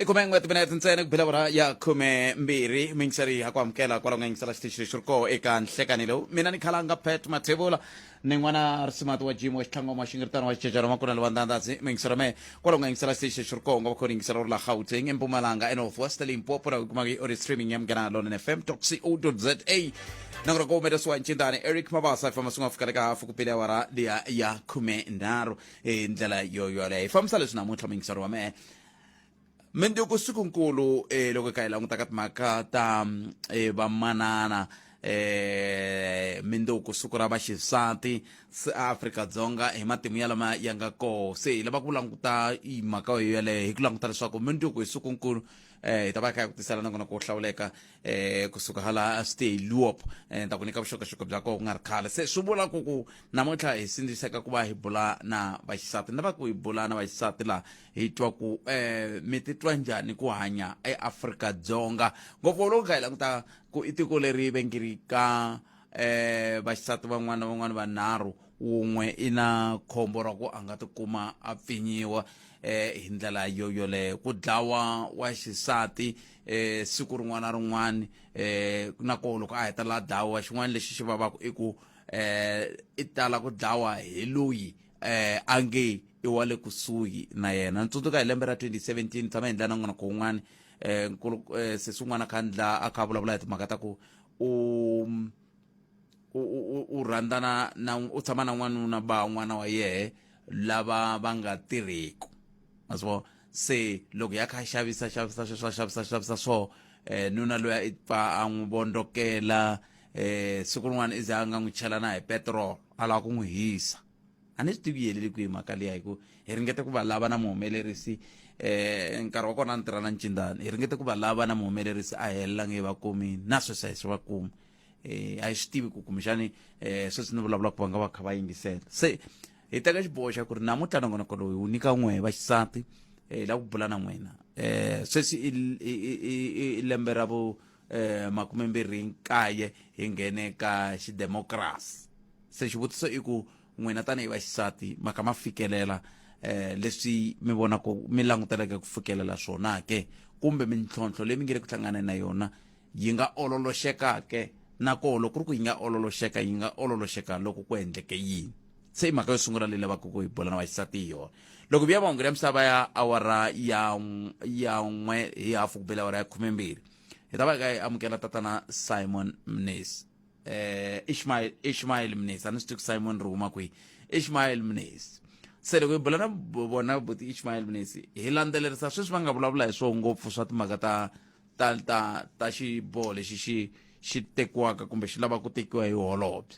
i khume n'we timinete ntsena ku bela vora ya khume mbirhi mi ngiseri ya ku amukela kwalaho nga yingisela xitichi lexi ri koho eka nhlekani lowu mina ni khalanga pet mathevula ni n'wana risimati wa jimo wa xitlhangoma wa xingiritano wa xicecana wa makuna lewa ndandasi mi yingisera mehe kwalaho nga yingisela xitichi lexi ri koho nga va kho ni yingisela ri la gauteng empumalanga enorth west limpopo laha kumaka yi ori streaming ya mugana london fm toc o za na ku ri ku humelesiwa ncindani eric mabasa ifamba swi nga fika le ka hafu ku pele awara liya ya khume nharhu hi ndlela yo yoleyo hi fambisa leswi namuntlha muyingiseri wa mehe mindzuku sikunkulu eh, loko hi kha hi languta ka timhaka ta eh, vamanana eh mindzuku siku ra vaxisati se Afrika-Dzonga hi matimu ya lama ya nga koho se hi lava ku languta i mhaka yo yeleyo hi ku languta leswaku mindzuku hi sikunkulu eh hi ta va hi kha hi ku tisela nakona ku hlawuleka eh kusuka hala stay luop eh ta ku nyika vuxokoxoko bya koho ku nga ri khale se swi vula ku ku namuntlha hi sindziseka ku va hi bula na vaxisati ni lava ku hi bula na vaxisati laha hi twa ku eh mi titwa njhani ku hanya eafrika dzonga ngopfu loko hi kha hi languta ku i tiko leri vengirika eh vaxisati van'wana van'wana vanharhu wun'we i na khombo ra ku a nga tikuma a pfinyiwa eh hi ndlela yo yoleyo ku dlawa wa xisati eh siku rin'wana na rin'wana eh na ko loko a heta la dlawa xin'wana lexi xi vavaka i ku eh i tala ku dlawa hi loyi eh a nge i wa le kusuhi na yena ni tsundzuka hi lembe ra 2017 tshama hi ndlela na n'wana ko wun'wana eh nkulu eh sesi wun'wana khandla a kha vulavula hi timhaka ta ku u u u u rhandzana na u tshama na n'wanuna ba n'wana wa yehe lava va nga tirhiku ma swi vona se loko ya kha a xavisa xavisa sweswo a xavisa xavisa swo um nuna loyi i pfa a n'wi vondzokela um siku rin'wana i ze a nga n'wi chela na hi petirolo a lava ku n'wi hisa a ni swi tivi yi heleli kwihi mhaka liya hi ku hi ringete ku va lava na muhumelerisi eh nkarhi wa kona a ni tirha na ncindani hi ringete ku va lava na muhumelerisi a helelange va kumini na sweswi a hi swi va kumi eh a hi swi tivi ku kumbexani eh sweswi ni vulavula ku va nga va kha va yingisela se hi teka xiboho xa ku ri namuntlha nongonoko loyi wu nyika n'we va xisati eh la ku bula na n'wina eh sweswi i lembe ra vu eh, makume mbirhi nkaye hi nghene ka xidemokirasi se xivutiso i ku n'wina tanihi vaxisati ma kha ma fikelela eh leswi mi vonaka mi languteleke ku fikelela swona ke kumbe mintlhontlho leyi mi nge le ku hlanganeni na yona yi nga ololoxeka ke nakoho loko ku ri ku yi nga ololoxeka yi nga ololoxeka loko ku endleke yini se i mhaka yo sungula leyi lavaka ku hi bula na vaxisati hi yona loko vuya mahungu ya misava ya awara ya n'w- ya n'we hi hafu ku bela awara ya khumembirhi hi ta va hi ka hi amukela tatana simon mnesi eh ishmael ishmael mnesi a ni swi tivi ku simon ri huma kwihi ishmael mnesi se loko hi bula na bo- vona buti ishmael mnesi hi landzelerisa sweswi va nga vulavula hi swona ngopfu swa timhaka ta ta ta ta xiboho lexi xi xi tekiwaka kumbe xi lava ku tekiwa hi holobye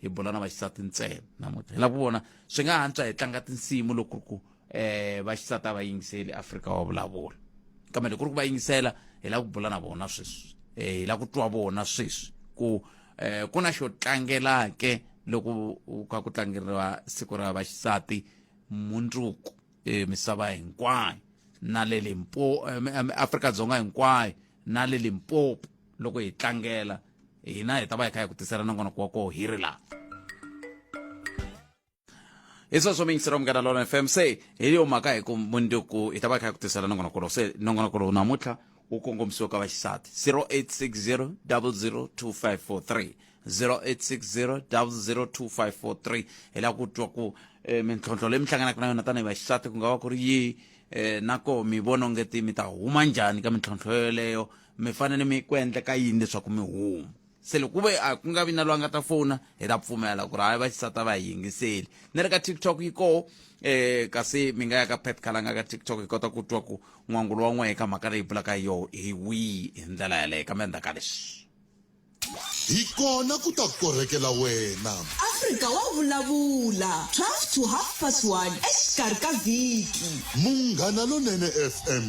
hi bula na vaxisati ntsena namuntlha hi lava ku vona swi nga antswa hi tlanga tinsimu loko ku um vaxisati a va yingiseli afrika wa vulavula kambe loko ku ri ku va yingisela hi lava ku bula na vona sweswi um hi lava ku twa vona sweswi ku um ku na xo tlangelake loko u ka ku tlangeriwa siku ra vaxisati mundzuku um misava hinkwayo na le limpo afrika dzonga hinkwayo na le limpopo loko hi tlangela hina hi ta va hi kha hi ku tisela nongonoko wa koho hi ri laha hi sweswo mi yingisela munghana lona fm se hi yo mhaka hi ku munduku hi ta va hi kha hi ku tisela nongonoko lowu se nongonoko lowu namuntlha wu kongomisiwa ka vaxisati 0860 002543 0860 002543 hi la ku twa ku eh, mintlhontlho leyi mi hlanganaka na yona tanihi vaxisati ku nga va ku ri yihi eh, nako mi vona onge ti mi ta huma njhani ka mintlhontlho yoleyo mi fanele mi ku endleka yini leswaku mi huma se loko ku ve a ku nga vi na loyi a nga ta fona hi ta pfumela ku ri hayi vaxisati a va hi yingiseli ni ri ka tiktok yi koho um kasi mi nga ya ka pet kalanga ka tiktok hi kota ku twa ku n'wangulo wa n'wehe ka mhaka leyi bulaka hi yoho hi wihi hi ndlela yaleyo kambe endzhaku ka leswi hi kona ku ta korhekela wena afrika wa vulavula 12 to half past 1 exikarhi ka vhiki munghana lonene fm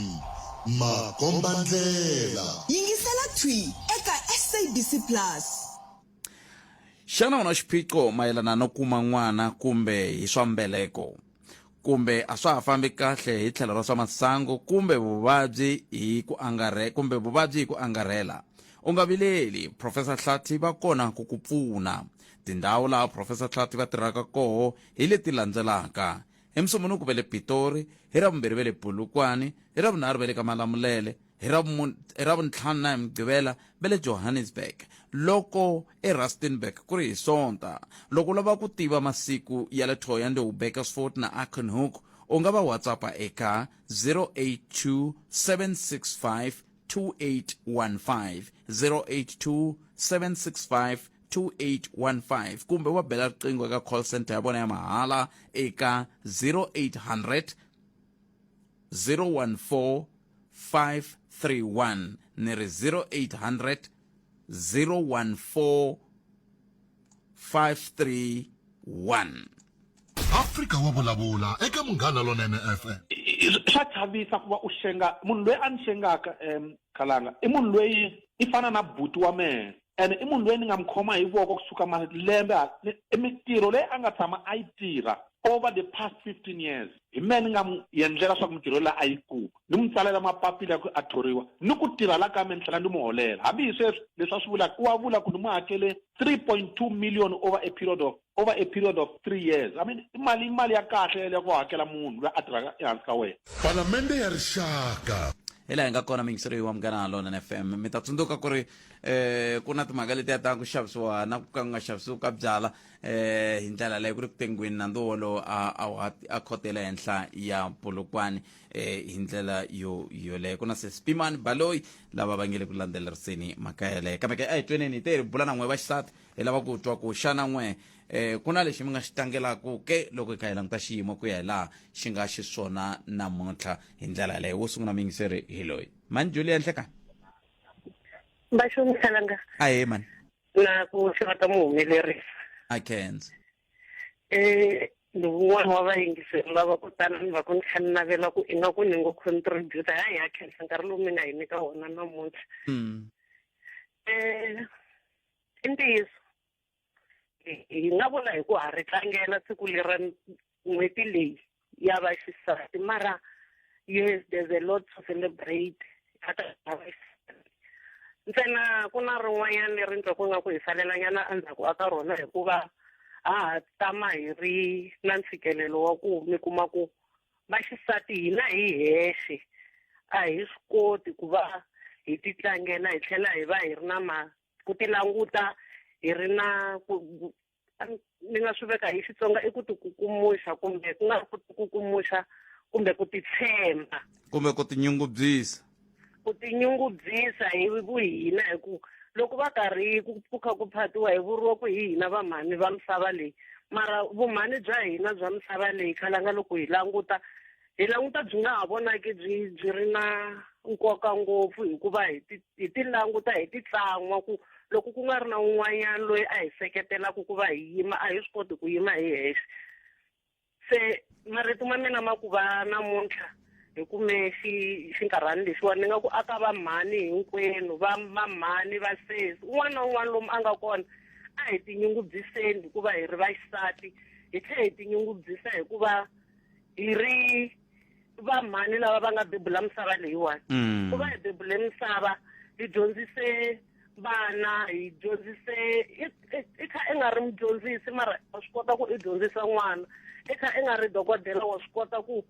makombandlela yingisela thwi eka sabc plus xana u na xiphiqo mayelana no kuma n'wana kumbe hi swa mbeleko kumbe a swa ha fambi kahle hi tlhelo ra swa masangu kumbe vuvabyi hi ku angarhe kumbe vuvabyi hi ku angarhela u nga vileli profesa hlathi va kona ku ku pfuna tindhawu laha profesa hlathi va tirhaka koho hi leti landzelaka hi musumunuku ve le pitori hi ravumbirhi ve le bulukwani hi ravunharhu ve le ka malamulele hi Ravuntlhanu na hi Mugqivela va le Johannesburg loko eRustenburg ku ri hi Sonta. Loko u lava ku tiva masiku ya le Thohoyandou, Bakersford na Arkenhoek u nga va WhatsAppa eka 082 765 2815 082 765 2815 kumbe wa bela riqingho eka call center ya vona ya mahala eka 0800 014 531 ni ri 0800 014 531 afrika wa vulavula eka munghana lonene fm swa chavisa ku va u xenga munhu loyi a ni xengaka um khalanga i munhu loyi i fana na buti wa mehe ene i munhu loyi ni nga mi khoma hi voko kusuka malembe i mintirho leyi a nga tshama a yi tirha over the past 15 years hi mehe ni nga mu yendlela swa ku mintirho leyi a yi kuma ni mu tsalela mapapila ya ku a thoriwa ni ku tirha la ka me ni tlhela ni mu holela hambi hi sweswi leswi a swi vulaka u wa vula ku ni mu hakele 3.2 million over a period of over a period of three years i mean i mali i mali ya kahle yeleyo ku hakela munhu loyi a tirhaka ehansi ka wena palamende ya rixaka hi laha hi nga kona mingiseriyo wa munghana ha lona na f m mi ta tsundzuka ku ri um ku na timhaka leti ya ta ku xavisiwa na ku ka ku nga xavisiwi ka byala um hi ndlela leyi ku ri ku tengweni nandzu wolowo a khotela henhla ya polokwane um hi ndlela yo yoleyo ku na sespimani baloyi lava va nge le ku landzeleriseni mhaka yeleyo kambe ke a hi tweneni hi te hi bula na n'we va xisati hi lava ku twa ku xana n'we um ku na lexi mi nga xi tlangelaku ke loko hi kha hi languta xiyimo ku ya hi laha xi nga xiswona namuntlha hi ndlela yaleyo wo sungula muyingiseri hi loyi mani juli ya nhlekani vaxomisalanga ahe mani na ku hlekata muhumelerisi a kenza um eh, ni wun'wana wa vayingiseri lava ku tala ni va ku ni kha ni navela ku ingaku ni ngo contributa ha hi ya khensa nkarhi lowu mi nga hi nyika wona namuntlha um hmm. eh, i ntiyiso hi nga vula hi ku ha ri tlangela siku lera n'hweti leyi ya va xisati mara yes there's a lot to celebrate a ta ha va xisati ntsena ku na rin'wanyana leri ndza ku nga ku hi salelanyana endzhaku a ka rona hikuva ha ha tama hi ri na ntshikelelo wa ku mi kuma ku Vaxisati hina hi hexe a hi swi koti ku va hi titlangela hi tlhela hi va hi ri na ma ku ti languta hi ri na ku ni nga swi veka hi Xitsonga i ku ti kukumuxa kumbe ku nga ri ku ti kukumuxa kumbe ku ti tshemba kumbe ku tinyungubyisa ku tinyungubyisa hi vuhina hi ku loko va karhi ku ku kha ku phatiwa hi vuriwa ku hi hina vamhani va misava leyi mara vumhani bya hina bya misava leyi khalanga loko hi languta hi languta byi nga ha vonaki byi byi ri na nkoka ngopfu hikuva hi ti hi ti languta hi ti tlan'wa ku loko ku nga ri na un'wanyana loyi a hi seketelaka ku va hi yima a hi swi koti ku yima hi hexe se marito ma mina ma ku va namuntlha hi kume xi xinkarhani lexiwani ni nga ku aka va mhani hinkwenu va va mhani va sesi un'wana na un'wana lomu a nga kona a hi tinyungubyiseni hikuva hi ri vaxisati hi tlhela hi tinyungubyisa hikuva hi ri va mhani lava va nga bebula misava leyiwani mm. ku va hi bebule misava hi dyondzise vana hi dyondzise i kha i nga ri mudyondzisi mara wa swi kota ku i dyondzisa n'wana i kha i nga ri dokodela wa swi kota ku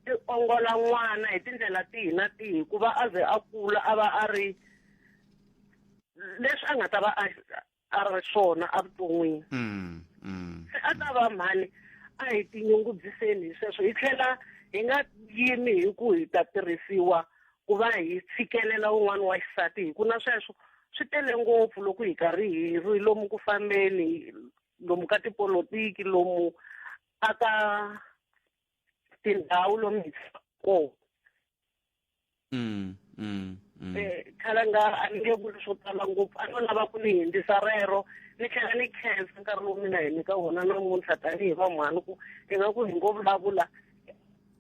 i ongola n'wana hi tindlela tihi na tihi ku va a ze a kula a va a ri leswi a nga ta va a a ri swona evuton'wini mm, mm. se a ta va mhani a hi tinyungubyiseni hi sweswo hi tlhela hi nga yimi hi ku hi ta tirhisiwa ku va hi tshikelela un'wana wa xisati hi ku na sweswo swi tele ngopfu loko hi karhi hi ri lomu ku fambeni lomu ka tipolotiki lomu a ka tindhawu lomu hi kona mm, mm, mm. Eh, khale nga a ni nge vuli swo tala ngopfu a no lava ku ni hindzisa rero ni tlhela ni khensa nkarhi lowu mina hi nyika wona namuntlha tanihi vamhani ku ingaku hi ngo vulavula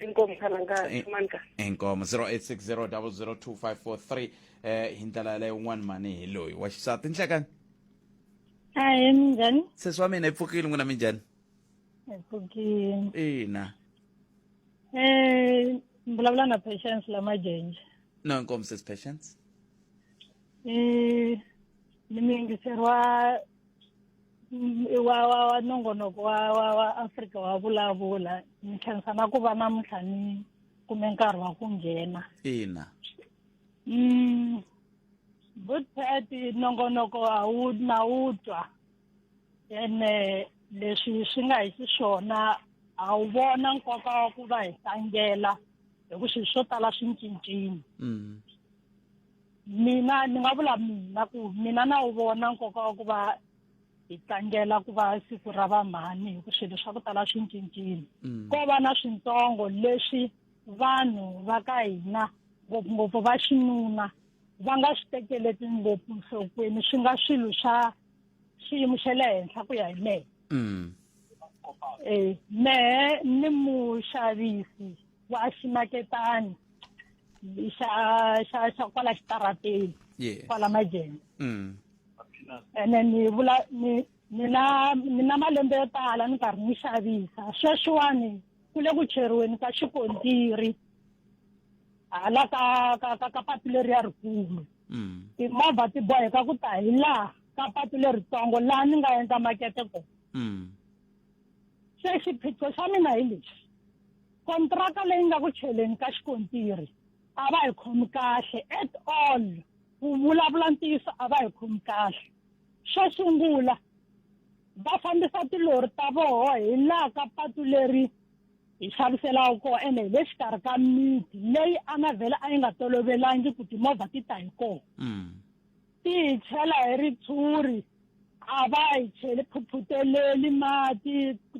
inkomu khalanga eh, manika inkomu 0860002543 eh hi ndlela yaleyo un'wana mani hi loyi wa xisati nhlekani hayi minjhani sesi wa mina yi pfukile n'wina minjhani yi pfukile ina um mbulavula na patience la majenje no inkomu sesi patience um ni mi yingiseriwa mm, wa wa wa nongonoko wa wa wa afrika wa vulavula ni tlhenisa na ku va namuntlha ni kume nkarhi wa ku nghena ina mm, good pet nongonoko a wu na wu twa ene leswi swi nga hi xiswona a wu vona nkoka wa ku va hi tlangela hi ku swilo swo tala swi cincile mm. mina ni nga vula mina ku mina na wu vona nkoka wa ku va hi tlangela ku va siku ra vamhani hi ku swilo swa ku tala swi cincile mm. ko va na swintsongo leswi vanhu va ka hina ngopfungopfu va xinuna va nga swi tekeleti ngopfu nhlokweni swi nga swilo swa xiyimo xa le henhla ku ya hi mehe mm. eh, mehe ni muxavisi wa ximaketani xa xa xa kwala xitarateni yeah. kwala majeni mm. ene ni vula ni ni na ni na malembe yo tala ni karhi ni xavisa sweswiwani ku le ku cheriweni ka xikontiri hala ka ka ka ka patu leri ya rikulu mm. timovha ti boheka ku ta hi laha ka patu leritsongo laha ni nga endla makete kona mm. se xiphiqo xa mina hi lexi kontraka leyi nga ku cheleni ka xikontiri a va hi khomi kahle at all ku vulavula ntiyiso a va hi khomi kahle xo sungula va fambisa tilori ta voho hi laha ka patu leri hi xaviselaka kona ene hi le xikarhi ka miti leyi a nga vhele a yi nga tolovelangi ku timovha ti ta hi kona mm. ti hi chela hi ritshuri a va yi cheli phuphuteleli mati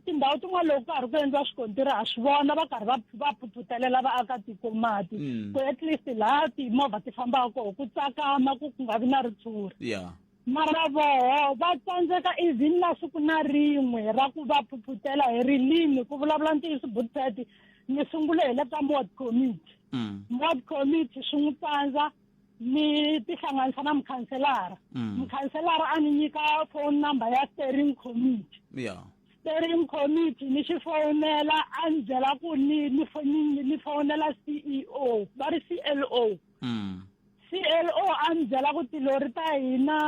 tindhawu tin'wana loko karhi ku endliwa swikontiri ha swi vona va karhi va va phuphutelela vaakatiko mati mm. ku at least laha timovha ti fambaka koho ku tsakama ku ku nga vi na ritshuri yeah mara voho va tsandzeka even na siku na rin'we ra ku va phuphutela hi rilimi ku vulavula ntiyiso butseti ni sungule hi le ka mod committee mm. mod committee swi n'wi tsandza ni tihlanganisa na mukhanselara mm. mukhanselara a ni nyika phone number ya steering committee yeah. steering committee ni xi fowunela a ni byela ku ni ni fowunela c e o va ri c l o mm. c l o a ni byela ku tilori ta hina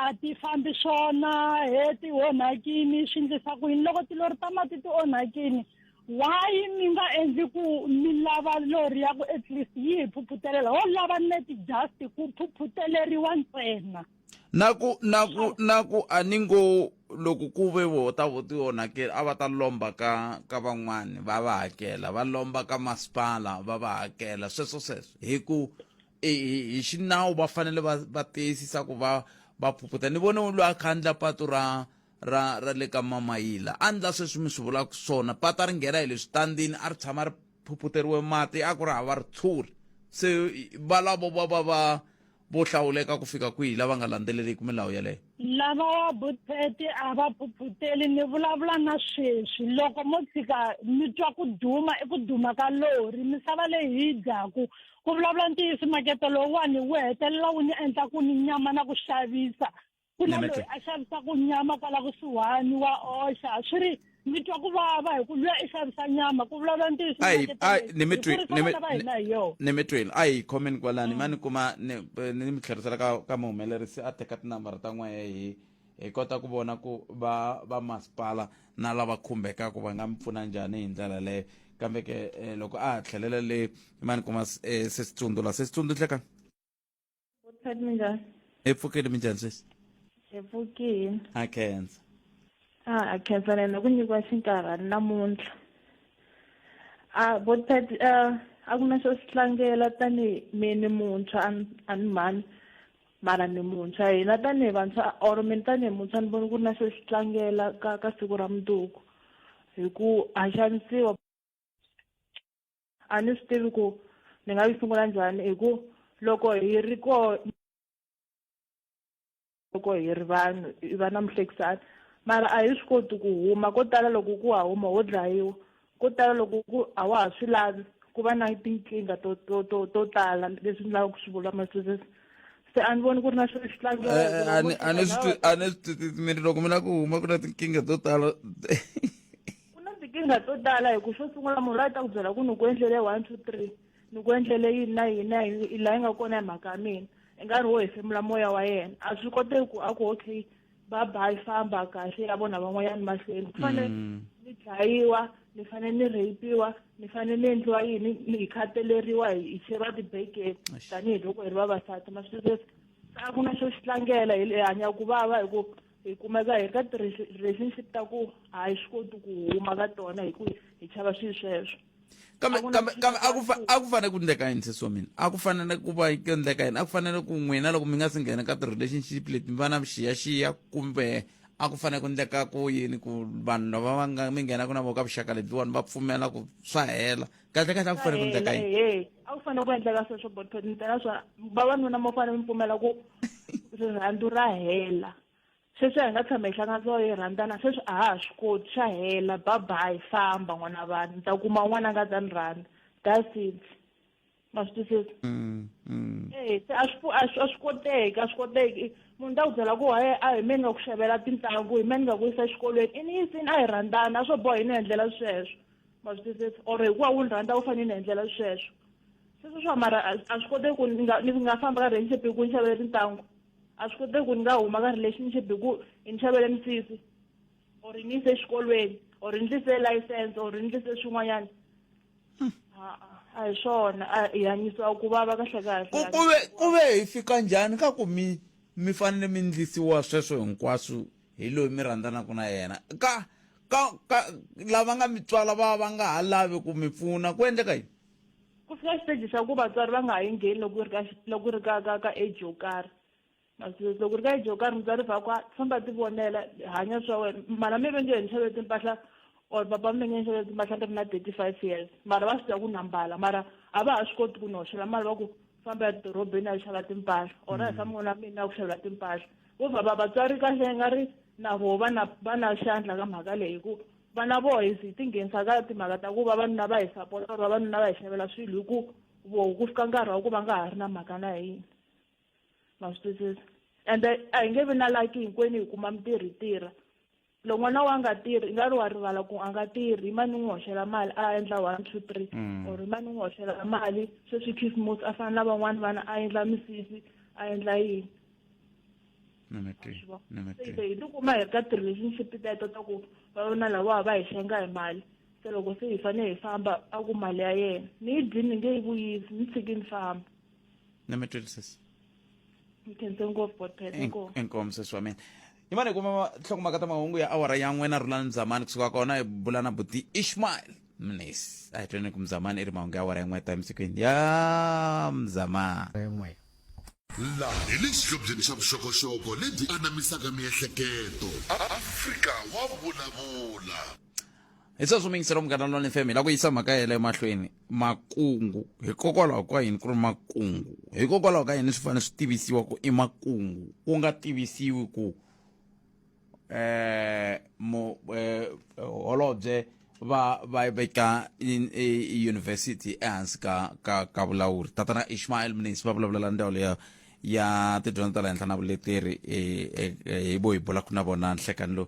a ti fambi swona he ti onhakini swi ndlisa ku yini loko tilori ta mati ti onhakini Why mi nga endli ku mi lava lori ya ku at least yi hi phuphutelela ho lava net just ku phuphuteleriwa ntsena na ku na ku na ku a ni ngo loko ku ve voho ta vo ti onhakela a va ta lomba ka ka van'wani va va hakela va lomba ka masipala va va hakela sweswo sweswo hi ku hi xinawu va fanele va va tiyisisa ku va va phuphuta ni vone loyi a khandla patu ra ra ra le ka mamayila a ndla sweswi mi swi vulaka swona pata ri nghena hi le switandini a ri tshama ri phuphuteriwe mati a ku ri hava ritshuri se valavo va va va vo hlawuleka ku fika kwihi lava nga landzeleliki milawu yeleyo lava wa buteti a va phuphuteli ni vulavula na sweswi loko mo tshika mi twa ku duma i ku duma ka lori misava leyi hi yi dyaku ku vulavula ntiyiso makete lowuwani wu hetelela wu ni endla ku ni nyama na ku xavisa ku na loyi a xavisaka nyama kwala kusuhani wa oxa swi ri mi twa ku vava hi ku luya i xavisa nyama ku vulavula ntiyiso ni mi twini a hi khomeni kwalani mm. ma ni kuma ni mi tlherisela ka ka muhumelerisi a teka tinambara ta n'wehe hi hi kota ku vona ku va va masipala na lava khumbekaka va nga mi pfuna njhani hi ndlela leyo kambe ke eh, loko a ha tlhelela le ma ni kuma eh, se sitsundula se sitsundzutleka Vuthati minjhani? Hi pfukile minjhani sweswi? Hi pfukile. Ha khensa. A ha khensa na hina ku nyikiwa xinkarhana namuntlha. A Vuthati a a ku na xo swi tlangela tanihi mi ni muntshwa a ni a ni mhani mara ni muntshwa hina tanihi vantshwa or mina tanihi muntshwa ni vona ku ri na xo xi tlangela ka ka siku ra mundzuku hi ku ha xanisiwa. A ni swi tivi ku ni nga yi sungula njhani hi ku loko hi ri ko loko hi ri vanhu hi va na muhlekisani mara a hi swi koti ku huma ko tala loko ku wa huma ho dlayiwa ko tala loko ku a wa ha swi lavi ku va na tinkingha to to to to tala leswi ni lavaka ku swi vula masisisi se a ni voni ku ri na xilo xi a ni a ni swi twi a ni swi twi mi ri loko mi lava ku huma ku na tinkingha to tala ku na tikingha to tala hi ku xo sungula munhu loyi a ta ku byela ku ni ku endlele one two three ni ku endlele yini na yini na yini i laha yi nga kona hi mhaka ya mina i nga ri wo hefemula moya wa yena a swi koteki ku a ku okay ba ba yi famba kahle ya vona van'wanyana mahlweni ku fanele mm. ni dlayiwa ni fanele ni rheyipiwa ni fanele ni endliwa yini ni hi khataleriwa hi cheriwa tibekeni tanihiloko hi ri vavasati maswiresi a ku na xo xi tlangela hi hanya ku vava hi ku hi kumeka hi ri ka ti-relationship ta ku a hi swi koti ku huma ka tona hi ku hi chava swilo sweswo kambe A ku na kambe lexi kambe nga a ku fa- faneliki. a ku fanele ku endleka yini sesi wa mina a ku fanele ku va ku endleka yini a ku fanele ku n'wina loko mi nga si nghena ka ti-relationship leti mi va na vuxiyaxiya kumbe a ku fanele ku endleka ku yini ku vanhu lava va nga mi nghenaka na vo ka vuxaka lebyiwani va pfumela ku swa hela kahle kahle a ku fanele ku endleka yini hehe a ku fanele ku endleka sweswo botho ni tela swa vavanuna mo fanele mi pfumela ku rirhandzu ra hela sweswi hi nga tshama hi hlanganisiwa hi rhandzana sweswi a ha ha swi koti xa hela babayi famba n'wana vanhu ni ta kuma un'wana a nga ta ni rhandza that's it ma swi twisisa mm, mm. e se a swi a swi a swi koteki a swi koteki munhu ta ku byela ku haye a hi me ni nga ku xavela tintangu hi me ni nga ku yisa exikolweni i ni yisini a hi rhandzana a swo boha hi ni endlela sweswo ma swi twisisa or hikuva wu ni rhandza wu fanele ni endlela sweswo sweswo swa mara a swi koteki ku ni nga ni nga famba ka relationship hi ku ni xavele tintangu a swi koteki ku ni nga huma ka relationship hi ku hi ni xavele misisi or ni yise exikolweni or ni ndlise license or ni ndlise swin'wanyana hmm. a hi swona a hi hanyisiwa ku vava kahle kahle ku ve ku ve hi fika njhani ka ku mi mi fanele mi ndlisiwa sweswo hinkwaswo hi loyi mi rhandzanaka na yena ka ka ka lava nga mi tswala va va nga ha lavi ku mi pfuna ku endleka yini ku fika xiteji xa ku vatswari va nga ha yi ngheni loko ri ka loko ri ka ka ka age yo karhi masesi loko ri ka age yo karhi mutswari va ku famba ti vonela hanya swa wena mara mi ve nge hi ni xavele timpahla or papa mi nge ni xavele timpahla ni ri na thirty five years mara va swi tiva ku na mbala mara a va ha swi koti ku ni hoxela mali va ku famba ya dorobeni a yi xava timpahla or a hi famba n'wana wa mina a ku xavela timpahla vo vhava vatswari kahle yi nga ri na voho va na va na xandla ka mhaka leyi hi ku vana voho hi hi tinghenisa ka timhaka ta ku vavanuna va hi sapota or vavanuna va hi xavela swilo hi ku voho ku fika nkarhi wa ku va nga ha ri na mhaka na hina ma swi twisisa ende a hi nge vi na laki hinkwenu hi kuma mintirho hi tirha loko n'wana wa nga tirhi i nga ri wa rivala ku a nga tirhi i mani n'wi hoxela mali a endla one two three mm. or i mani n'wi hoxela mali sweswi khisimusi a fana na van'wani vana a endla misisi a endla yini se hi tikuma hi ka ti-relationship teto ta ku va vona lavawa va hi xenga hi mali se loko se hi fanele hi famba a ku mali ya yena ni yi dyini ni nge yi vuyisi ni tshiki ni famba na mi twisisa nkhense ngopfu botpet inkomu inkomu sesi wa mina yimani hi kuma nhlokomhaka ta mahungu ya awara ya n'we na rhulani mzamani kusuka kona hi bula na buti ishmael mnisi a hi tweni ku mzamani i ri mahungu ya awara ya n'we ta emisikwini ya mzamani rin'we laha hi le xihlobyeni xa vuxokoxoko lebyi anamisaka miehleketo afrika wa vulavula hi sweswo mingisela munghana lonene fm hi lava ku yisa mhaka yela emahlweni makungu hikokwalaho ka yini ku ri makungu hikokwalaho ka yini swi fanele swi tivisiwa ku i makungu ku nga tivisiwi ku eh mo eh holobye va va veka university ehansi ka ka ka vulawuri tatana Ishmael Mnisi va vulavulela ndhawu leya ya tidyondzo ta le henhla na vuleteri hi bo hi bula ku na vona nhlekani lowu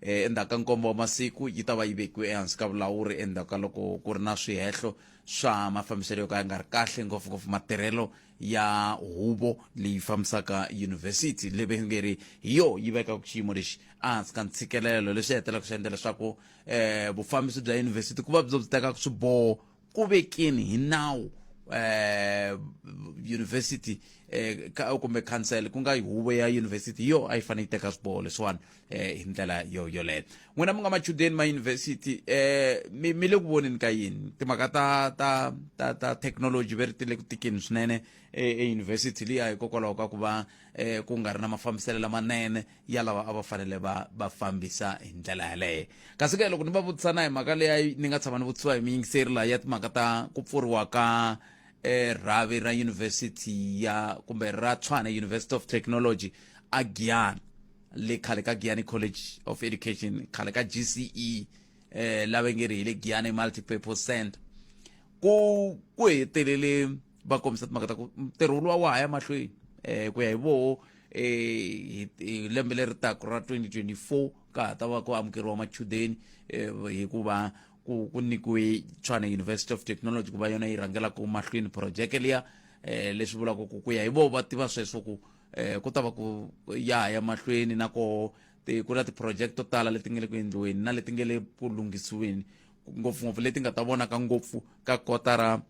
eh, endzhaku ka nkombo wa masiku yi ta va yi vekiwe ehansi ka vulawuri endzhaku ka loko ku ri na swihehlo swa mafambiselo yo ka ya nga ri kahle ngopfungopfu matirhelo ya huvo leyi fambisaka yunivhesiti leyi nge ri hi yo yi vekaka xiyimo lexi ehansi ka ntshikelelo leswi hetelaka swi endla leswaku um vufambisi bya yunivhesiti ku va byo byi tekaka swiboho ku vekeni hi nawu eh, university eh, ka, kumbe council ku nga huvo ya university yo a yi fanele yi teka swiboho leswiwani eh, hi ndlela yo yoleyo n'wina mi nga machudeni ma university eh, mi mi le ku voneni ka yini timhaka ta ta ta, ta technology ve ri ti le ku tikeni swinene eh, eyunivhesiti liya hikokwalaho ka ku va eh, ku nga ri na mafambiselo lamanene ya lava a va fanele va va fambisa hi ndlela yaleyo kasi ke loko ni va vutisa na hi mhaka leyi ni nga tshama ni vutisiwa hi miyingiseri laha ya timhaka ta ku pfuriwa ka eh, rhavi ra university ya kumbe ra tshwana university of technology a giyana le khale ka giyani college of education khale ka gce eh, lava nge ri hi le giyani multipurpose center ku ku hetelele va kombisa timhaka ta ku ntirho luwa wa ha ya mahlweni um ku ya hi voho um eh, hi lembe leri taku ra 2024 ka ha ta va ku amukeriwa machudeni um hikuva ku ku nyikiwe tshwane university of technology ku va yona yi rhangelaka mahlweni projeke liya um leswi vulaka ku ku ya hi voho va tiva sweswo ku um ku ta va ku ya ha ya mahlweni na koho ku na ti-project to tala leti nga le ku endliweni na leti nga le ku lunghisiweni ngopfungopfu leti nga ta vonaka ngopfu ka kotara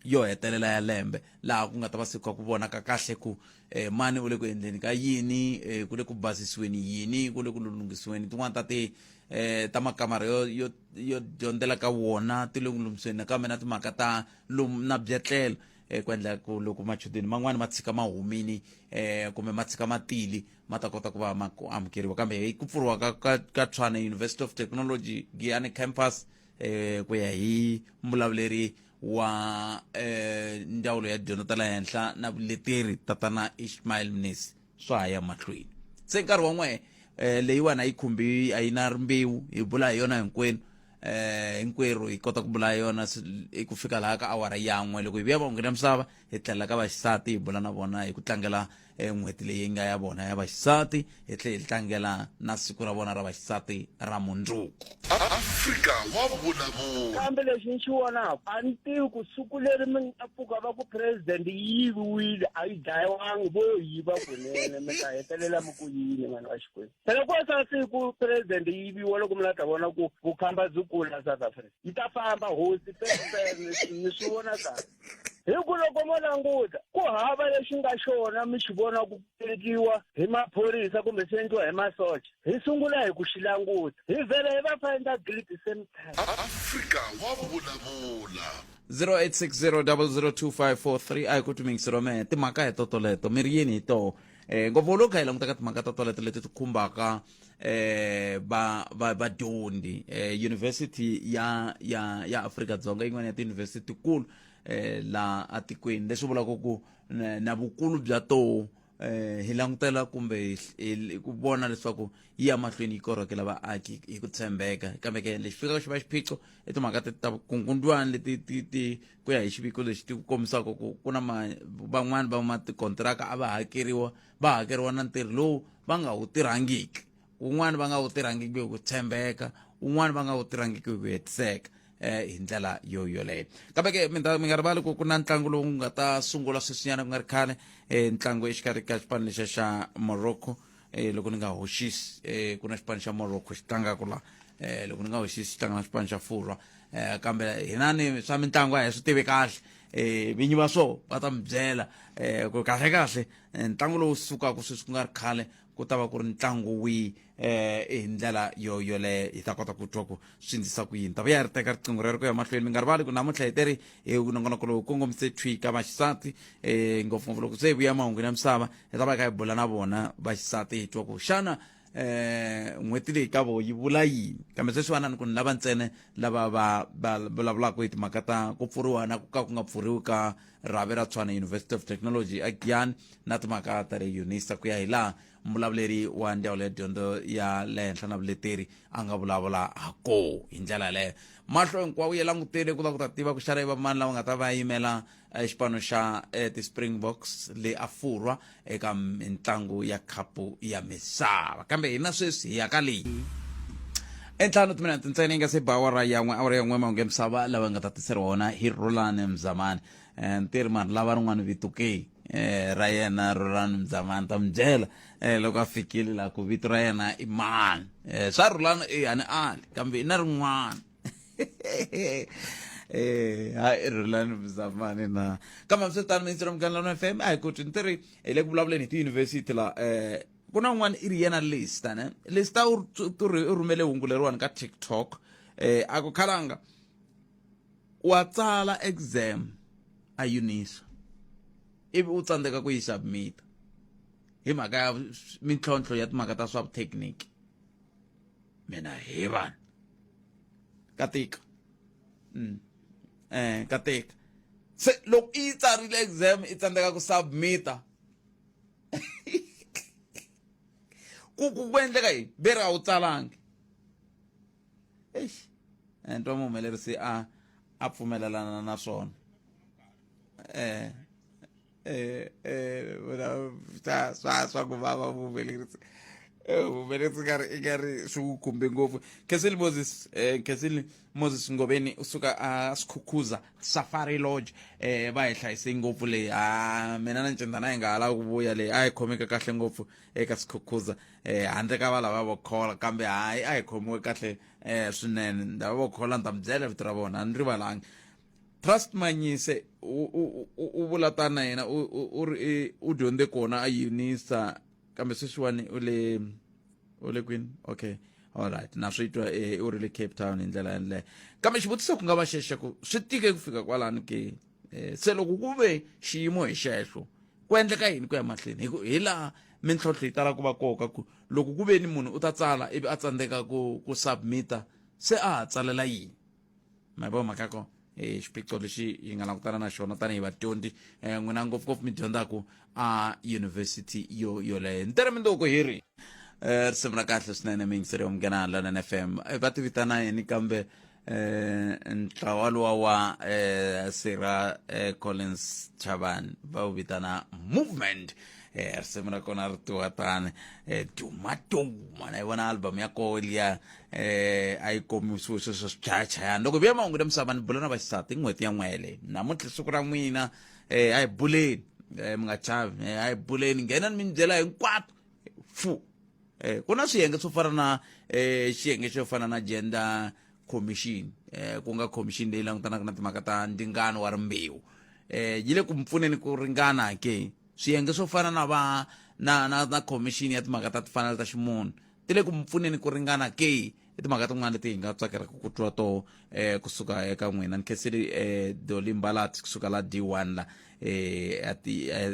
yo hetelela ya lembe laha ku nga ta va siku ku vonaka kahle ku eh, mani u le ku endleni ka yini eh, ku le ku basisiweni yini ku le ku lulunghisiweni tin'wana ta ti eh, ta makamara yo, yo, yo dyondzela ka wona ti le ku lunghisweni nakambe na timhaka ta lum, na byetlelo eh, ku endla ku loko machudeni man'wani ma tshika ma humini eh, kumbe ma tshika matili ma ta kota ku va ma ku amukeriwa kambe hi ku pfuriwa ka, ka, ka tshwana university of technology giyani campus eh, ku ya hi mbulavuleri wa eh, ndzawulo ya dyondzo ta la henhla na vuleteri tatana ishmael mnisi swa ha ya mahlweni se nkarhi wan'we eh, leyiwana yi khumbi a yi na rimbewu hi bula hi yona hinkwenu eh hinkwerhu hi kota ku bula yona hi ku fika laha ka awara yan'we loko hi vuya va nghena misava hi tlhelela ka vaxisati hi bula na vona hi ku tlangela e n'hweti leyi nga ya vona ya vaxisati hi tlhe hi tlangela na siku ra vona ra vaxisati ra mundzuku afrika wa vulavula kambe lexi ni xi vonaka a ni tivi ku siku leri mi nga pfuka va ku president yi yiviwile a yi dlayiwangi vo yiva kunene mi ta hetelela mi ku yini vanhu va xikwembu phela ku sa siku president yi yiviwa loko mi la ta vona ku vukhamba byi kula south africa yi ta famba hosi ni swi vona kahle hi ku loko mo languta ku hava lexi nga xona mi xi vona ku endliwa hi maphorisa kumbe swi endliwa hi masocha hi sungula hi ku xi languta hi vhele hi va find a guilt same time afrika wa vulavula 0860002543 a yi ku tumingisiro mehe timhaka hi totoleto mi ri yini hi toho um ngopfu loko kha hi languta ka timhaka totoleto leti ti khumbaka eh va va vadyondzi eh university ya ya ya Afrika Dzonga yin'wana ya tiuniversity kulu eh la atikweni leswi vulaka ku na na vukulu bya toho eh hi langutela kumbe hi- hi- ku vona leswaku yi ya mahlweni yi korhokela vaaki hi ku tshembeka kambe ke lexi fikaka xi va xiphiqo i timhaka ti ta kungundzwana leti ti ti ku ya hi xiviko lexi ti ku kombisaka ku ku na ma- van'wani va matikontiraka a va hakeriwa va hakeriwa na ntirho lowu va nga wu tirhangiki un'wana va nga wu tirhangiki hi ku tshembeka un'wana va nga wu tirhangiki hi ku hetiseka um hi ndlela yo yoleyo kambe ke mi nga rivali ku ku na ntlangu lowu nga ta sungula sweswinyana ku nga ri khale um ntlangu exikarhi ka xipano lexa xa morocco um loko ni nga hoxisi um ku na xipano xa morocco xi tlangaka la um loko ni nga hoxisi xi tlanga na xipano xa furwa um kambe hina ni swa mitlangu a hi swi tivi kahle um vinyi va swo va ta mi byela um ku kahle kahle eh, ntlangu lowu sukaka sweswi ku nga ri khale ku ta va ku ri ntlangu wihi eh, hi ndlela yo yoleyo hi ta kota ku twa ku swi ndlisa ku yini ta va ya ri teka riqingho rero ku ya mahlweni mi nga rivali ku namuntlha hi teri hi eh, nongonoko lowu kongomise thwika vaxisati um ngopfungopfu loko se hi vuya mahungu ya misava hi ta va hi kha hi bula na vona vaxisati hi twa ku xana eh n'hweti leyi ka vo yi vula yini kambe sweswiwanani ku ni lava ntsene lava va va vulavulaka hi timhaka ta ku pfuriwa na ku ka ku nga pfuriwi ka rhavi ra tshwana university of technology a giyani na timhaka ta le unisa ku ya hi laha mbulavuleri wa ndyawulo ya dyondzo ya le henhla na vuleteri a nga vulavula ha koo hi ndlela yaleyo mahlo hinkwawo ya langutele ku va ku ta tiva ku xana i vamani lava nga ta va yimela eh, xipano xa eh, ti-springboks le afurwa eka mitlangu ya khapu ya misava kambe hina sweswi hi ya ka leyi entlhanu timinete ntsena yi nga se ba awara yan'we awara yan'we mahungu ya misava lawa nga ta tiseri wona hi rolani mzamani um ntirhi mani lava rin'wana vito ke um ra yena rolani mzamani ta mi byela um loko a fikile laha ku vito ra yena i mani um swa rolani i hani ali kambe i na rin'wana eh hayi rhulani mzamani na kambe hambiswiritano mintsira mugangano f m a hi koti ni ti ri hi le ku vulavuleni hi tiyunivhesiti la um ku na un'wana i ri yena lista ne lista u rhumele hungu leriwani ka tiktok um a ku khalanga wa tsala exam a yunisa ivi u tsandzeka ku yi submita hi mhaka ya mintlhontlho ya timhaka ta swa vutechnique mina he vanhu ka tika mm. eh ka tika se loko i yi tsarile exam i tsandzeka ku submita ku ku ku endleka yini ve ri a wu tsalangi eish and twa muhumelerisi a a pfumelelana na swona eh eh, eh, ta swa swa ku vava vuhumelerisi eh, vuhumelerisi nga ri i nga ri swi wu khumbe ngopfu khenseli moses um khenseli moses ngoveni u suka a swikhukhuza safari lodge um va hi hlayise ngopfu leyi a mina na ncindana hi nga ha lavi ku vuya leyi a hi khomeke kahle ngopfu eka swikhukhuza um handle ka valava va khola kambe hayi a hi khomiwe kahle um swinene ndava va khola ni ta mi byela vito ra vona a ni rivalangi trust manyise u u u- u vula tani na yena u u- u ri i- u dyondze kona a unisa kambe sweswiwani u le u le kwini okay alright na swi twa eh, u ri le cape town hi ndlela yaleyo kambe xivutiso ku nga va xexe ku swi tike ku fika kwalani ke Eh, se loko ku ve xiyimo hi xexo ku endleka yini ku ya mahlweni hi ku hi laha mintlhontlho yi tala ku va koka ku loko ku ve ni munhu u ta tsala ivi a tsandzeka ku ku submita se a ha tsalela yini ma vo mhaka ko eh, xiphiqo lexi hi nga langutana na xona tanihi vadyondzi um n'wina ngopfungopfu mi dyondzaka a yunivhesiti yo yoleyo ntirho mindoko hi ri um risimu ra kahle swinene miyingiseri yo munghana london f m Eh, va tivitana yini kambe um ntlawa luwa wa um sira eh, collins chavan va wu vitana movement eh risimu ra kona ri tiwa tani eh duma duma na yi vona album ya koho liya eh a yi komisiwe swilo swa swichayachayana loko hi vuya mahungu ta misava ni bula na vaxisati i n'hweti ya n'wele namuntlha siku ra n'wina eh a hi buleni eh mi nga chavi eh a hi buleni nghenani mi ni byela hinkwato fu eh ku na swiyenge swo fana na eh xiyenge xo fana na gender commission eh ku nga commission leyi langutanaka na timhaka ta ndingano wa rimbewu eh yi le ku mi pfuneni ku ringana ke swiyenge swo fana na va na na na commission ya timhaka ta timfanelo ta ximunhu ti le ku mi pfuneni ku ringana ke i timhaka tin'wana leti hi nga tsakelaka ku twa to um eh, kusuka eka n'wina ni khenseli um eh, doli mbalat kusuka la d one la um at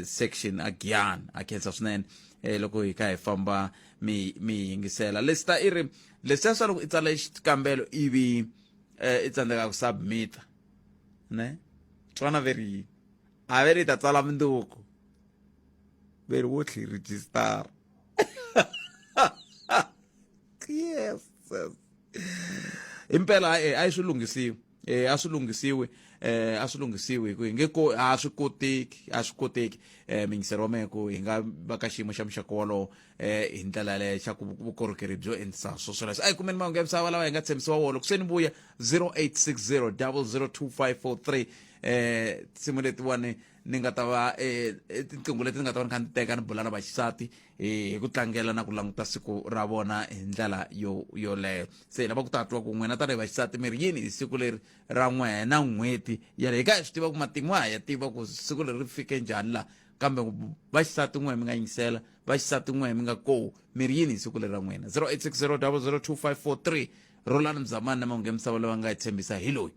section a giyan a khensa swinene um loko hi kha hi famba mi mi yingisela lesita i ri leswiya swa loko i tsala xikambelo ivi um i tsandzeka ku submita ne twana veri yini a ve ri ta tsala minduku veri wo tlhi register yes impela eh ayi swi lunghisiwe eh a swi lunghisiwe eh a swi lunghisiwe ku nge ko a swi koteki a swi koteki eh mingisero wa mehe ku hi nga va ka xiyimo xa muxaka wolowo eh hi ndlela leyo xa ku vukorhokeri byo endlisa swo swoleswo a hi kumeni mahungu ya misava lawa hi nga tshembisiwa wona loko se ni vuya 0860 002 543 eh nsimu letiwani ni nga ta va eh, eh, tiqingho leti ni nga ta va ni kha ni teka ni bula na vaxisati eh, hi ku tlangela na ku languta siku ra vona hi ndlela yo yoleyo se hi lava ku tatwa ku n'wina tanihi vaxisati mi ri yini hi siku leri ra n'wena n'hweti yale hi ka hi swi tiva ku matimu a hi ya tiva ku siku leri ri fike njhani laha kambe vaxisati n'we mi nga yingisela vaxisati n'we mi nga kowu mi ri yini hi siku leri ra n'wina 0860 002 543 rolani mzamani na mahungu ya misava lava nga hi tshembisa hi loyi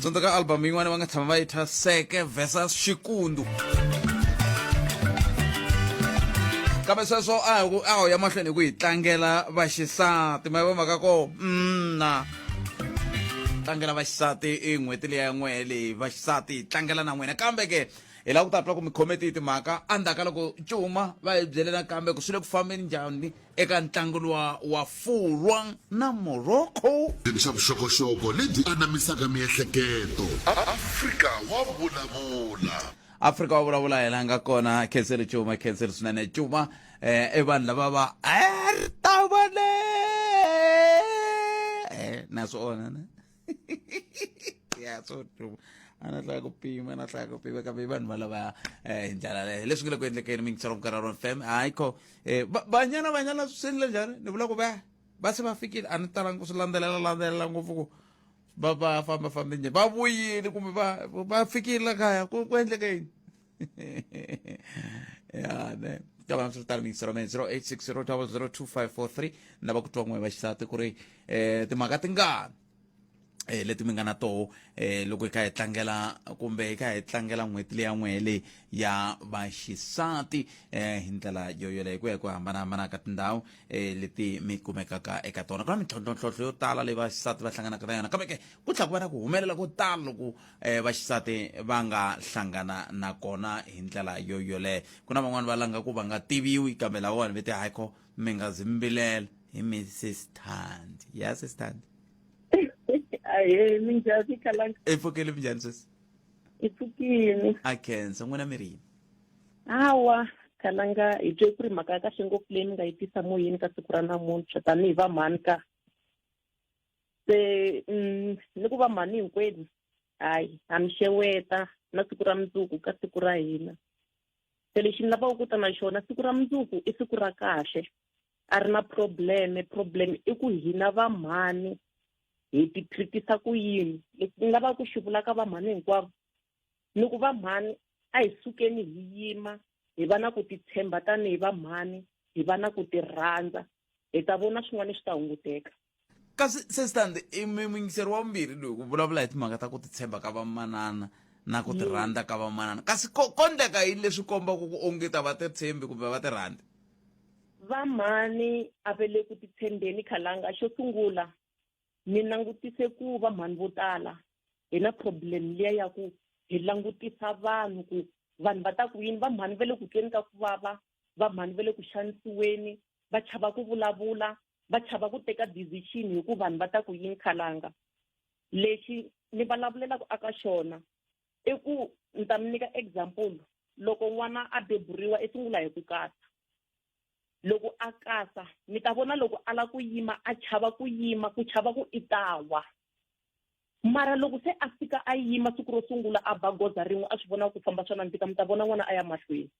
tsundzuka album yin'wana va nga tshama va yi thya seke versus xikundu kambe sweswo a hi ku a ho ya mahlweni hi ku hi tlangela vaxisati ma va mhaka ko mna tlangela vaxisati i n'hweti leyi ya n'wehe leyi vaxisati hi tlangela na n'wina kambe ke hi lava ku ta twa ku mi khome tihi timhaka endzhaku ka loko cuma va hi byelela kambe ku swi le ku fambeni njhani eka ntlangu luwa wa fulwa na morocco Tirhisa vuxokoxoko lebyi anamisaka miehleketo. Afrika wa vulavula. afrika wa vulavula hi la nga kona khenseri cuma khenseri swinene cuma eh, i vanhu lava va ertavale eh, na swi ona ne ya so true a na hlaya ku pima na hlaya ku pima kambe vanhu valava eh, hi ndlela leyo leswi nga le ku endlekeni mingisela vukararo fm hayi kho eh, ba- banyana banyana swi endle njhani ni vula ku va va se va fikile a ni talanga ku swi landzelela landzelela ngopfu ku va va famba fambe njhani va vuyile kumbe va va fikile la kaya ku ku endleke yini ya ne kama msotari minisiro me 0860002543 na va ku twa n'we va xisati ku ri eh timhaka tingani eh leti mi nga na toho eh loko hi kha hi tlangela kumbe hi kha hi tlangela n'hweti leya n'wehe leyi ya vaxisati eh hi ndlela yo yoleyo hi ku ya hi ku hambanahambana ka tindhawu eh leti mi kumekaka eka tona ku na mintlhontlhontlhontlho yo tala leyi vaxisati va hlanganaka na yona kambe ke ku tlhela ku va na ku humelela ko tala loko e, vaxisati va nga hlangana na kona hi ndlela yo yoleyo ku na van'wani va langa ku va nga tiviwi kambe lawawani ve ti haiko mi nga zi mbilela hi mi sistandi ya sistandi ahe minjhani khalanga i pfukile minjhani sweswi i pfukile a khensa n'wina mi ri yini hawa khalanga hi twe ku ri mhaka ya kahle ngopfu leyi ni nga yi tisa moyeni ka siku ra namuntlha tanihi vamhani ka se mm, ni ku va mhani hinkwenu hayi ha mi xeweta na siku ra mundzuku ka siku ra hina se lexi ni lavaka ku ta na xona siku ra mundzuku i siku ra kahle a ri na probleme problem i ku hina va mhani hi ti treatisa ku yini lexi ni lavaka ku xi vula ka va mhani hinkwavo ni ku va mhani a hi sukeni hi yima hi va na ku titshemba tanihi va mhani hi va na ku tirhandza hi ta vona swin'wana swi ta hunguteka kasi sestand muyingiseri wa vumbirhi loyi ku vulavula hi timhaka ta ku titshemba ka vamanana na ku tirhandza ka vamanana kasi ko ko ndleka yini leswi kombaka ku onge ta va titshembi kumbe va tirhandza vamhani a va le ku titshembeni khalanga xo sungula ni langutise ku va mhani vo tala hi na problem liya ya ku hi langutisa vanhu ku vanhu va ta ku yini va mhani va le ku tweni ka ku vava va mhani va le ku xanisiweni va chava ku vulavula va chava ku teka decision hi ku vanhu va ta ku yini khalanga lexi ni vulavulelaka aka xona i ku ni ta mi nyika example loko n'wana a beburiwa i sungula hi ku katsa loko a kasa mi ta vona loko a la ku yima a chava ku yima ku chava ku i ta wa mara loko se a fika a yima siku ro sungula a ba goza rin'we a swi vona ku famba swa nandzika mi ta vona n'wana a ya mahlweni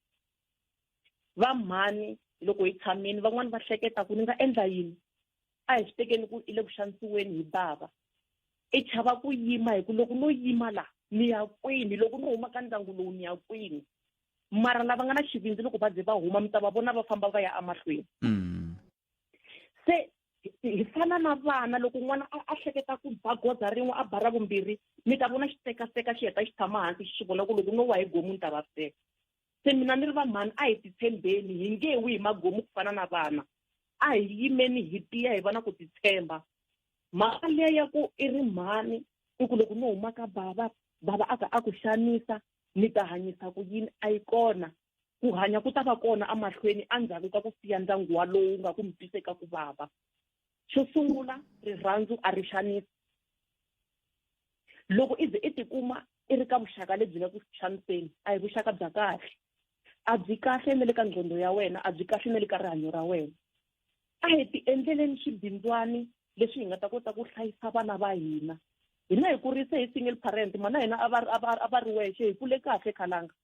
va mhani loko hi tshamini van'wani va hleketa ku ni nga endla yini a hi swi tekeni ku i le ku xanisiweni hi bava i chava ku yima hi ku loko no yima la ni ya kwini loko ni huma ka ndyangu lowu ni ya kwini mara lava nga na xivindzi loko va ze va huma mi ta va vona va famba va ya emahlweni mm. se hi fana na vana loko n'wana a hleketa ku ba goza rin'we a bara vumbirhi mi ta vona xitekaseka xi heta xi tshama hansi xi swi vona ku loko no wa hi gomu ni ta vaviseka se mina ni ri vamhani a hi titshembeni hi nge wi hi magomu ku fana na vana a hi yimeni hi tiya hi va na ku titshemba mhaka leya ya ku i ri mhani i ku loko no huma ka bava bava a ka a ku xanisa ni ta hanyisa ku yini a yi kona ku hanya ku ta va kona emahlweni endzhaku ka ku siya ndyangu walowu nga ku mi twiseka ku vava xo sungula rirhandzu a ri xanisi loko i ze i tikuma i ri ka vuxaka lebyi nga ku xaniseni a hi vuxaka bya kahle a byi kahle na le ka nqondo ya wena a byi kahle na le ka rihanyo ra wena a hi ti endleleni swibindzwani leswi hi nga ta kota ku hlayisa vana va hina hina hi kurise hi single parent mana hina a va a va a va ri wexe hi kule kahle khalanga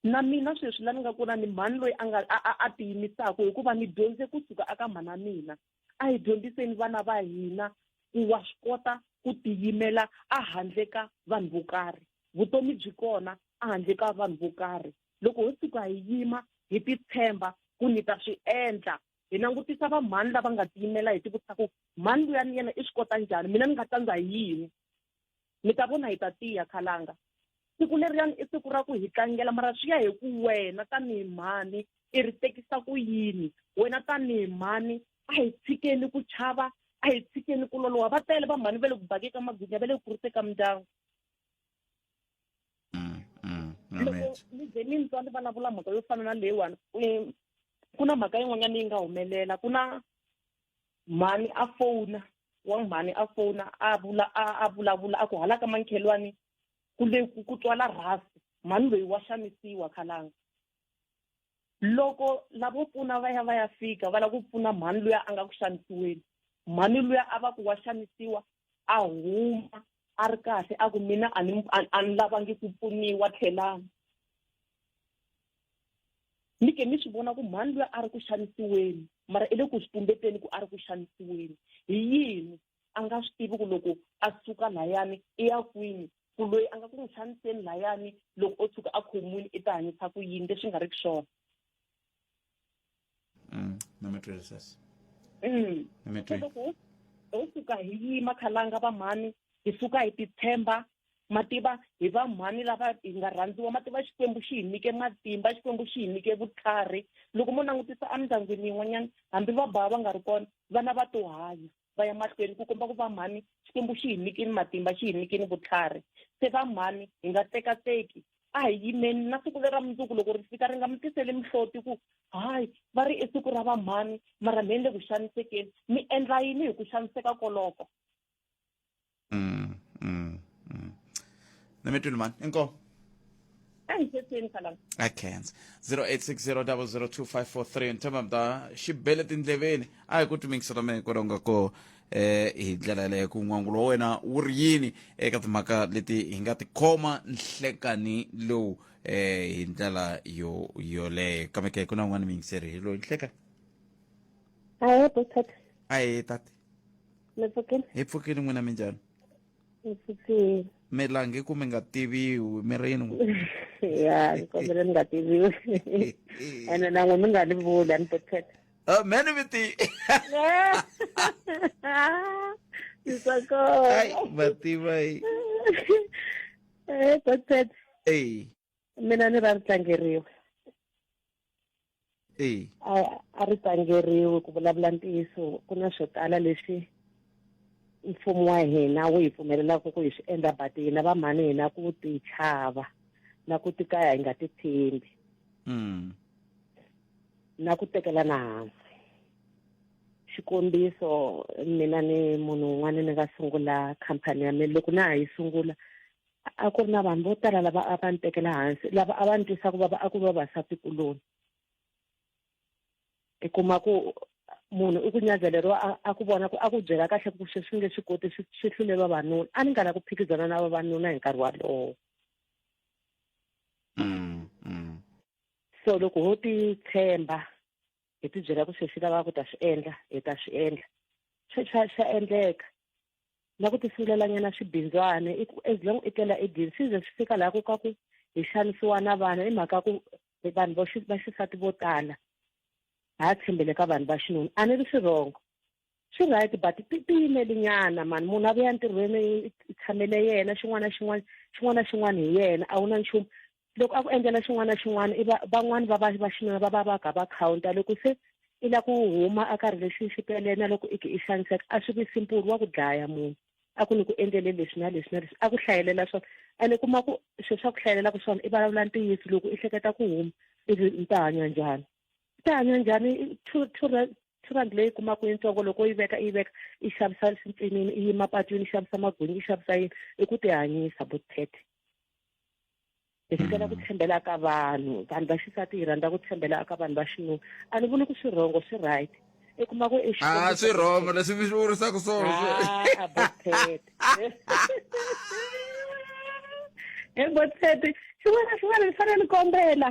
na mina sweswi la ni nga kona ni mhani loyi a nga a a tiyimisaku hikuva ni dyondze kusuka aka mhana mina a hi dyondziseni vana va hina ku wa swi kota ku tiyimela a handle ka vanhu vo karhi vutomi byi kona a handle ka vanhu vo karhi loko ho tshuka hi yima hi titshemba ku ni ta swi endla hi langutisa va mhani lava nga tiyimela hi tivutisa ku mhani luya ni yena i swi kota njhani mina ni nga tsandza hi yini mi ta vona hi ta tiya khalanga siku leriyani i siku ra ku hi tlangela mara swi ya hi ku wena tanihi mhani i ri tekisa ku yini wena tanihi mhani a hi tshikeni ku chava a hi tshikeni ku loloha va tele va mhani va le ku bakeka magwinya va le ku kuriseka mindyangu mm, mm, loko mi ze mi ntswa ni vulavula mhaka yo fana na leyiwani ku na mhaka yin'wanyana yi nga humelela ku na mhani a fona wa mhani a fona a vula a vulavula a ku hala ka mankhelwani ku le ku twala rhasi mhani loyi wa xanisiwa khalanga loko lavo pfuna va ya va ya fika va lava ku pfuna mhani luya a nga ku xanisiweni mhani luya a va ku wa xanisiwa a huma a ri kahle a ku mina a ni a ni lavangi ku pfuniwa tlhelani ni ke ni swi vona ku mhani luya a ri ku xanisiweni mara i le ku swi tumbeteni ku a ri ku xanisiweni hi yini a nga swi tivi ku loko a suka layani i ya kwini ku loyi a nga ku n'wi xaniseni layani loko o tshuka a khomiwile i ta hanyisa ku yini leswi nga ri ku swona mm, mm. loko ho suka hi yima khalanga va mhani hi suka hi titshemba ma tiva hi va mhani lava hi nga rhandziwa ma tiva xikwembu xi hi nyike matimba xikwembu xi hi nyike vutlhari loko mo langutisa emindyangwini yin'wanyana hambi va bava va nga ri kona vana va to hanya va ya mahlweni ku komba ku va mhani xikwembu xi hi nyikini matimba xi hi nyikini vutlhari se va mhani hi nga tekateki a hi yimeni na siku lera mundzuku loko ri fika ri nga mi tiseli mihloti ku hayi va ri i siku ra va mhani mara mi endle ku xanisekeni mi endla yini hi ku xaniseka koloko mm mm mm nemetwini mani inkomo engisesini khala akhenza 0860002543 nthemba mda xi bele tindleveni a hi ku timingisa ta mina kwalonga ko eh hi ndlela leyo ku n'wangulo wa wena wu ri yini eka timhaka leti hi nga tikhoma nhlekani lowu eh hi ndlela yo yoleyo kambe ke ku na un'wana miyingiseri hi loyi nhlekani ahe botata a hi tati mi pfukile hi pfukile n'wina mi njhani mi pfukile mi lange ku mi nga tiviwi mi rini ya ni kombele ni nga tiviwi ene nan'we mi nga ni vuli a ni to thetha Uh, many with the Isakho. Ay, bati bay. Eh, that's it. Hey. mina ni ra ri tlangeriwe e a ri tlangeriwe ku vulavula ntiyiso ku na swo tala leswi mfumo wa hina wu hi pfumelelaka ku hi swi endla but hina va mhani hina ku ti chava na ku ti kaya hi nga ti tshembi mm. na ku tekelana hansi xikombiso mina ni munhu un'wana ni nga sungula khampani ya mina loko na ha yi sungula a ku ri na vanhu vo tala lava a va ni tekela hansi lava a va ni twisa ku vava a ku ri vavasati kuloni i kuma ku munhu i ku nyazeleriwa a ku vona ku a ku byela kahle ku swi swi nge swi koti swi swi hlule vavanuna a ni nga la ku phikizana na vavanuna hi nkarhi walowo mm, mm. so loko ho ti tshemba hi ti byela ku se swi lava ku ta swi endla hi ta swi endla swi swa swa endleka na ku tisungulelannyana swibindzwana i ku as long i tlela edini swi ze swi fika laha ku ka ku hi xanisiwa na vana i mhaka ku vanhu va xisati vo tala ha tshembele ka vanhu va xinuna a ni ri swi rhongo swi right but ti tiyimeli nyana mani munhu a vuya ntirhweni i tshamele yena xin'wana na xin'wana xin'wana na xin'wana hi yena a wu na nchumu loko a ku endlela xin'wana na xin'wana i van'wani va va va xinuna va va va ga va counta loko se i la ku huma a ka relationship yaleyo na loko i ke i xaniseka a swi vi simple wa ku dlaya munhu a ku ni ku endlele leswi na leswi na leswi a ku hlayelela swona ene kuma ku swilo swa ku hlayelelaka swona i vulavula ntiyiso loko i hleketa ku huma ivi mi ta hanya njhani ta hanya njhani two two ra- two rand leyi kumaka yintsongo loko yi veka yi veka yi xavisa swintsinini yi yima patwini yi xavisa magwinyi yi xavisa yini i ku ti hanyisa botete hi fikela ku tshembela ka vanhu vanhu va xisati hi rhandza ku tshembela ka vanhu va xinuna a ni vuli ku swi wrong swi right i kuma ku i a swi rhongo leswi mi swi vurisaka swona Ah, botete e botete xin'wana na xin'wana ni fanele ni kombela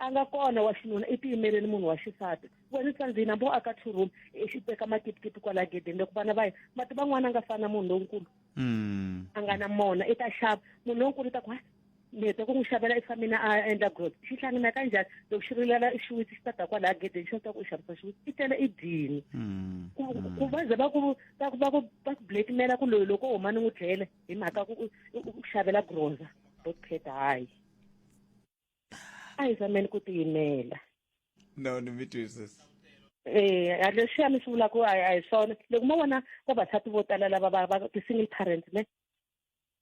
a nga kona wa xinuna i tiyimeleni munhu wa xisati wena sandzina mbo aka two room i xi teka makipitipi kwala gedeni loko vana va ye mati van'wana a nga fani na munhu lonkulu mm. a nga na mona i ta xava munhu lonkulu i ta ku ni heta ku n'wi xavela i famina a endla grot xi hlangana ka njhani loko xi rilela xiwitsi xi ta ta kwalaya gedeni xi ta ku u xavisa xiwitsi i tele i dini mm. ku mm. va ze va ku va ku va ku va ku blackmaila ku loyi loko u huma ni n'wi dlele hi mhaka ku u xavela groza botpet hayi a hi zameni ku tiyimela no ni mi twisisa eh a leswi a mi swi vulaka a hi swona loko mo vona vavasati vo tala lava va va ti-single parents ne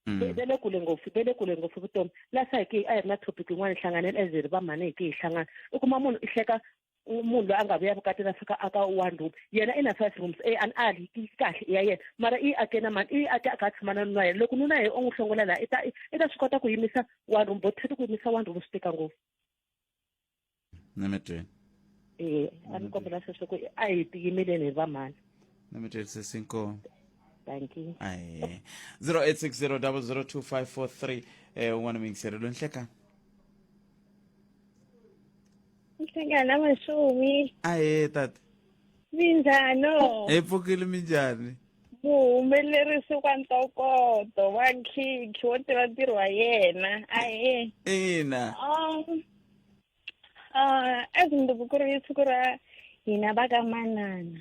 mm. ve le kule ngopfu ve le kule ngopfu vutomi lasa hi ke a hi ri na topic yin'wana hi hlanganela as hi ri vamhani hi ke hi hlangana u kuma munhu i hleka munhu loyi a nga vuya vukatini a fika aka one room yena i na five rooms e an ali yi kahle i ya yena mara i ake na mani i ake a kha a tshama na nuna yena loko nuna yena u n'wi hlongola laha i ta i ta swi kota ku yimisa one room bo thati ku yimisa one room swi tika ngopfu nemetweni e a ni kombela sweswo ku a hi tiyimeleni hi vamhani nemetweni sesinkomo thank you aye 0860 002 um un'wana miyingiseri lonhlekani Nhlangano na mashumi. ahee tata Minjhano. hi pfukile minjhani Muhumelerisi wa ntokoto wa khikhi wo tiva ntirho wa yena. Ahee. ina Um, uh, as mundzuku ku ri siku ra hina va ka manana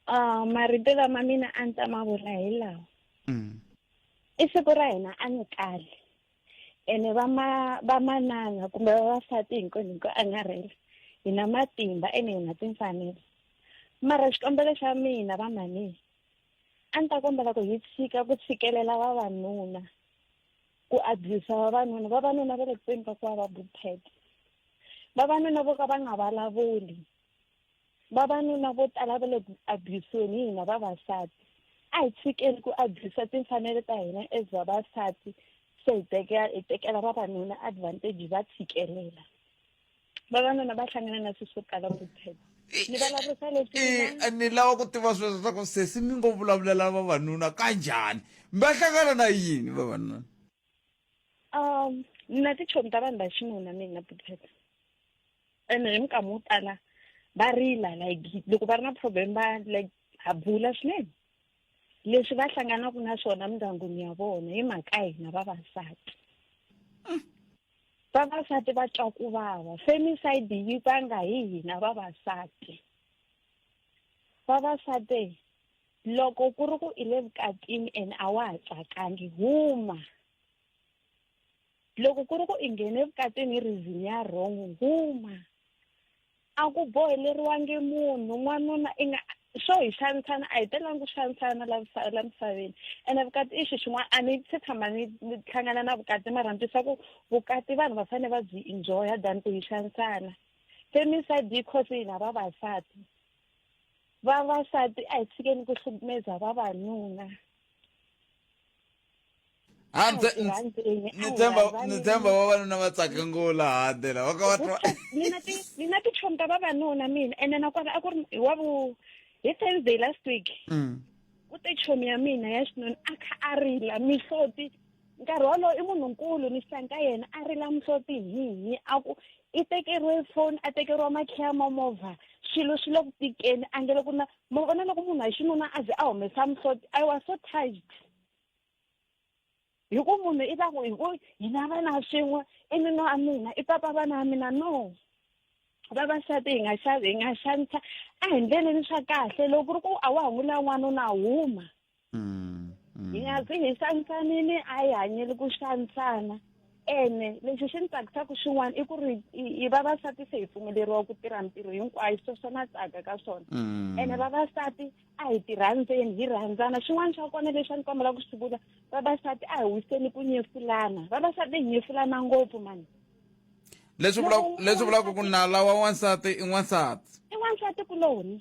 uh, marito lama mina a ni ta ma vula hi lawa Mm. i siku ra hina a ni kali ene vama vamanana kumbe vavasati hinkwenu hi ku angarhela hi na matimba ene hi na timfanelo mara xikombelo xa mina vamani a ni ta kombela ku hi tshika ku tshikelela vavanuna ku abuse vavanuna vavanuna va le kuteni ka ku va va bupet vavanuna vo ka va nga vulavuli Vavanuna vo tala va le ku abuse-weni hi hina vavasati. A hi tshikeni ku abuse timfanelo ta hina as vavasati se hi tekela hi tekela vavanuna advantage hi va tshikelela. Vavanuna va hlangana na swilo swo tala ku tshemba. Ni vulavurisa leswi I- ni lava ku tiva sweswo swa ku sesi mi ngo vulavulela vavanuna ka njhani va hlangana na yini vavanuna um ni na tichomi ta vanhu va xinuna mina na butheta ene hi minkama wo tala va rila like loko va ri na problem va like ha bula swinene leswi va hlanganaka na swona mindyangwini ya vona hi mhaka hina vavasati vavasati va twa ku vava femicide yi vanga hi hina vavasati vavasati loko ku ri ku i le vukatini and a wa ha tsakangi huma loko ku ri ku i nghene vukatini hi reason ya wrong huma a ku boheleriwangi munhu n'wanuna i nga swo hi xanisana a hi telangi ku xanisana la misaveni ene vukati i xi xin'wana a ni se tshama ni ni hlangana na vukati mara ni twisa ku vukati vanhu va fanele va byi enjoya than ku hi xanisana femicide yi cause yini ha vavasati vavasati a hi tshikeni ku hlukumeza vavanuna ni tshemba ni tshemba vavanuna va tsaka ngula hande lava ka va twa mina ti mina ti chomi ta vavanuna mina ene nakona a ku ri hi wa vu hi thursday last week mm. ku te chomi ya mina ya xinuna a kha a rila mihloti nkarhi wolowo i munhunkulu ni xihlangi ka yena a rila muhloti hihi a ku i tekeriwe foni a tekeriwa makhiya ma movha swilo swi le ku tikeni a nge loko na mo vona loko munhu wa xinuna a ze a humesa muhloti i was so touched hi ku munhu i ta ku hi ku hina vana swin'we i nuna wa mina i papa vana wa mina no vavasati hi nga xavi hi nga xanisa a hi ndleleni swa kahle loko ku ri ku a wa ha n'wi la n'wanuna huma mm, mm. hi nga ku hi xanisanile a hi hanyeli ku xanisana ene lexi xi ni tsakisaka xin'wana i ku ri hi vavasati se hi pfumeleriwa ku tirha ntirho hinkwayo swo swo na tsaka ka swona mm. ene vavasati a hi tirhandzeni hi rhandzana xin'wana xa kona lexi a ni kombela ku swi vula vavasati a hi wiseni ku nyefulana vavasati hi nyefulana ngopfu mani leswi vulaka leswi vulaka ku nala wa wansati i n'wansati i n'wansati kuloni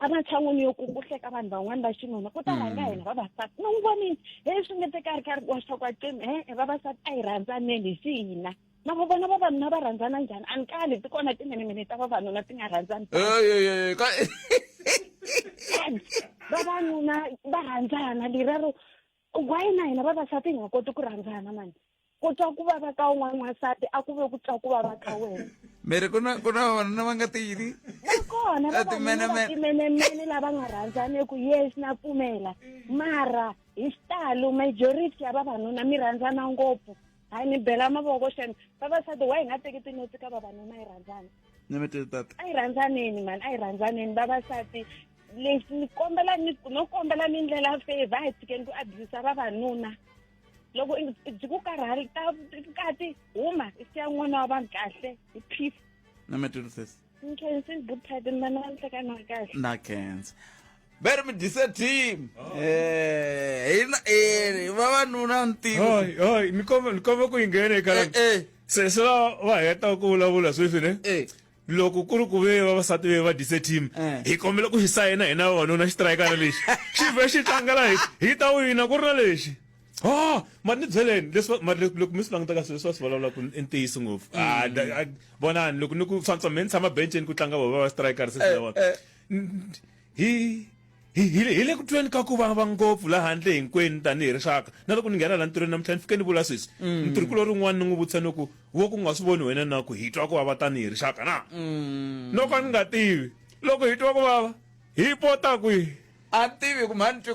ematshan'wini yo ku ku hleka vanhu van'wana va xinuna ku ta mm. rhanga hina vavasati mi n'wi vonile he swi nge teka ri karhi wa swaku acimi he e vavasati a hi rhandzaneni hi xihina na va vona vavanuna va rhandzana njhani a ni kali ti kona timinimini ta vavanuna ti nga rhandzani vavanuna va rhandzana lerero why na hina vavasati hi nga koti ku rhandzana mani ku twa ku vava ka un'wana n'wansati a ku ve ku twa ku vava ka wena miri ku na ku na vavanuna va nga ti yini va kona vavanunaatimenemene lava nga rhandzaneki yes na pfumela mara hi xitalo majority ya vavanuna mi rhandzana ngopfu hayi ni bela mavoko xana vavasati wa hi nga teki tinotsi ka vavanuna yi rhandzana nemetele tata a yi rhandzaneni mani a yi rhandzaneni vavasati lexi ni kombela ni no kombela ni ndlela favor a hi tshikeni ku abuse vavanuna loko byi ku karhali ta kati huma i siya n'wana wa vanhu kahle hi peace nemetele sesi nkhensi good titan mani wa nhlekani wa kahle na khensi veri mi dise team Eh, hina ene vavanuna ntivo Hoi, hoi, ni komba ni komba ku inghene ka Eh, eh. seswa va heta ku vulavula sweswi ne Eh. loko ku ri ku ve vavasati ve va dise team Eh. hi kombela ku xi sayina hina vavanuna xitirayikana lexi xi vhe xi tlangela hi hi ta wina ku ri na lexi ha ma ni byeleni leswi ma- loko loko mi swi languta ka swilo leswi va swi vulavula ku i ntiyiso ngopfu Ah, da- ah, vonani loko ni ku swantswa me ni tshama benceni ku tlanga vava va xitirayikara seswi Eh, na vona eh. hi hi hi hi le ku tweni ka ku vava ngopfu la handle hinkwenu tanihi rixaka na loko ni nghena la ntirhweni namuntlha ni fike ni vula sweswi ntirhi kulo rin'wana ni n'wi vutisa ni ku wo ku nga swi voni wena na ku hi twa ku vava tanihi rixaka na no ka ni nga tivi loko hi twa ku vava hi pota kwihi a tivi ku mhani twi